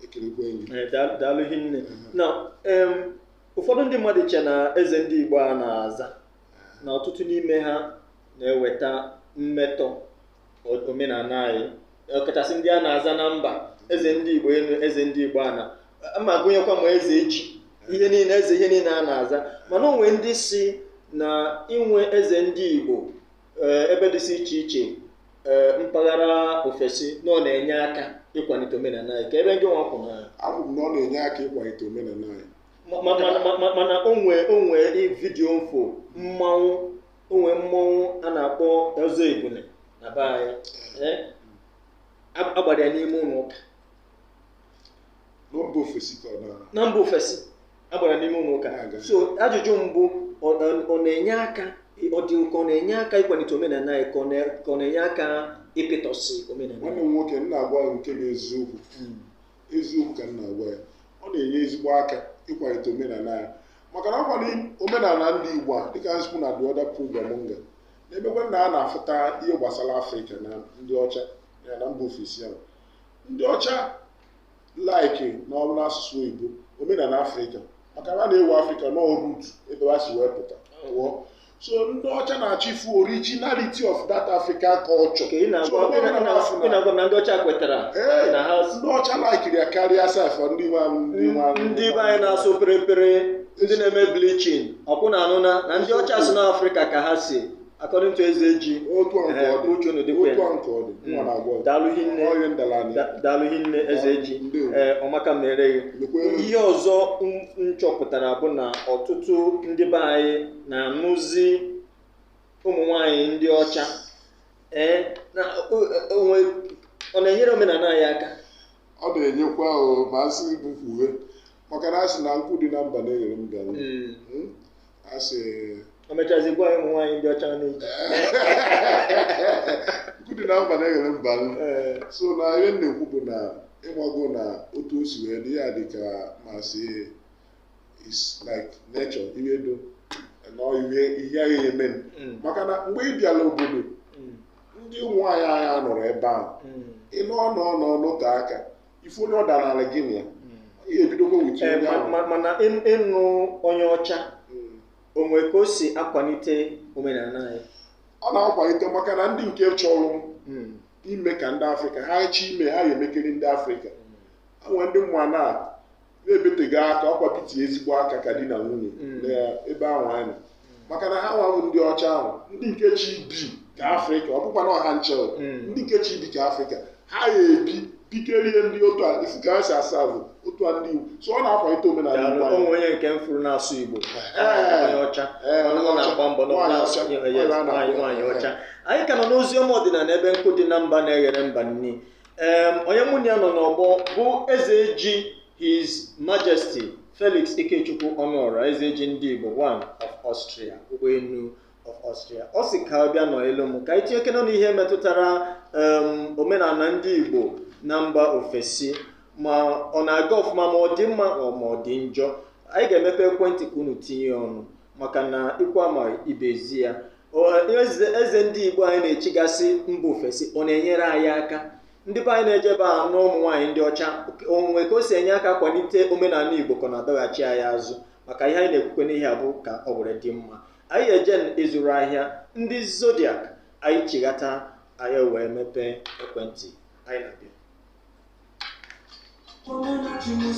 ekelekwe gị Eh, daa- daalụ hinne na em, ụfọdụ ndị mmadụ che na eze ndị igbo a na-aza na ọtụtụ n'ime ha na-eweta mmetọ o- omenala anyị ọkachasị ndị a na-aza na mba eze ndị igbo elu eze ndị igbo ala ma gụnyekwa ma eze ji ihe niile eze ihe niile a na-aza mana o nwe ndị sị na inwe eze ndị igbo eh, ebe dịsị iche iche eh, mpaghara ofesi na ọ na-enye aka ịkwalite omenala anyị ka ebe ndị nwa kwu na abụ m na ọ na-enye aka ịkwalite omenala anyị ma- ma- ma- ma- ma- mana o nwe o nwe vidiyo m fụ mmanwụ o nwe mmanwụ a na-akpọ ọzọ ebule na be anyị eh, a- a gbara ya n'ime ụlọ ụka na mba ofesi a gbara n'ime ụlọ ụka so ajụjụ m bụ ọ na-enye aka ọ dị ka ọ na-enye aka ịkwalite omenala anyị ka ọ na-enye aka ịpịtọsị omenala nwanne m nwoke m na-agwa gị nke bụ eziokwu hmm. eziokwu ka m na-agwa gị ọ na-enye ezigbo aka ịkwalite omenala anyị maka na ọ kwa omenala ndị Igbo a dịka m si kwuo na the other program nga na-emekwa na a na-afụta ihe gbasara Afrịka na ndị ọcha ya na mba ofesi ahụ ndị ọcha laikiri na ọ bụrụ n'asụsụ oyibo omenala afrịka maka na a na-ewe afrịka na ọ root ebe ha si wee pụta pụọ so ndị ọcha na-achọ ịfụ originality of that african culture Ka ị So, na-agwa onye ọbụla na-afụ na- ị na-agwa na ndị ọcha kwetara Ee, na ha ndị ọcha laikiri ya karịa sef ndị nwe anyị- ndị nwe anyị. ndị be anyị na-asụ perepere ndị na-eme bleaching ọ bụ na anụna na ndị ọcha si n'afrịka ka ha si according to eze ji otu a nke Ehe, ọ dị uche unu dịkwa ya. otu a nke ọ dị nwa na-agwa ọzọ. daalụ hinne Ọrịa ndala anyị. Da- daalụ hinne eze ji Ndewo. ee ọ maka mere gị Lekwe unu. ihe ọzọ m- m chọpụtara bụ na ọtụtụ ndị be anyị na-anụzi ụmụ nwanyị ndị ọcha ee na o- o nwe ọ na-enyere omenala anyị aka ọ na-enyekwa ahụ ma a sị bụ mkpughe maka na a sị na nkụ dị na mba na-eghere mba nri. Mm. Mm? a sị e mechazi gwa ụmụ nwaanyị ndị ọcha na e ji nkụ dị na mba na-eghere mba ee so na ihe m na-ekwu bụ na ị mago na otu o si wee dị ya dị ka m sị it's like nature ihe do na ihe ihe a ga-eme Mm. maka na mgbe ị bịara obodo Mm. ndị ụmụ nwaanyị anyị anọrọ ebe ahụ Mm. ị nọ nọ nọ nọte aka ị fụ onye ọ danaala gị na ya ihe ebidokwa with Ee, onye ma- ahụ ma- mana ị- ịnụ onye ọcha Mm. o nwere ka o si akwalite omenala anyị ọ na-akwalite maka na ndị nke chọrọ Mm. ime ka ndị afrịka ha chọ ime ha ya-emekiri ndị afrịka e nwere ndị m ma na na-ebeteghị aka ọkwa piti ezigbo aka ka di na nwunye mm. n'ebe ahụ anyị nọ maka na ha nwa wụ ndị ọcha ahụ ndị nke chọ ibi ka afrịka ọ bụkwa na ọ ha ncha mm. ndị nke chọ ibi ka afrịka ha ya-ebi pikerie ndị otu a isi ka ha si asa bụ otu a ndị igbo so ọ na-akwalite omenala igbo anyị onye nke m furu na-asụ igbo onye ọcha na-agba mbọ nwaanyị ọcha anyị ka nọ n'ozi ọma ọdịnala ebe nkụ dị na mba na-eghere mba nni Em, onye mụ na ya nọ n'ọgbọ bụ eze ji his majesty felix ikechukwu ọnụọra eze ji ndị igbo one of austria ụgbọelu of austria ọ sị ka ọ bịa nọnyelụ m ka anyị tinyekene ọnụ ihe metụtara em, omenala ndị igbo na mba ofesi ma ọ na-aga ọfụma ma ọ dị mma ọ ma ọ dị njọ anyị ga-emepe ekwentị ka unu tinye ọnụ maka na ikwu amaghị ibe ezi ya eze ndị be anyị na-echigasị mba ofesi ọ na-enyere anyị aka ndị be anyị na-ejebe anụ ụmụ nwaanyị ndị ọcha o nwe ka o si enye aka kwalite omenala igbo ka ọ na-adọghachi anyị azụ maka ihe anyị na-ekwukwanụ ihe a bụ ka o were dị mma anyị eje ịzụrụ ahịa ndị zodiak anyị chighata anyị wee mepee ekwentị anyị na-abịa Come on, let you move,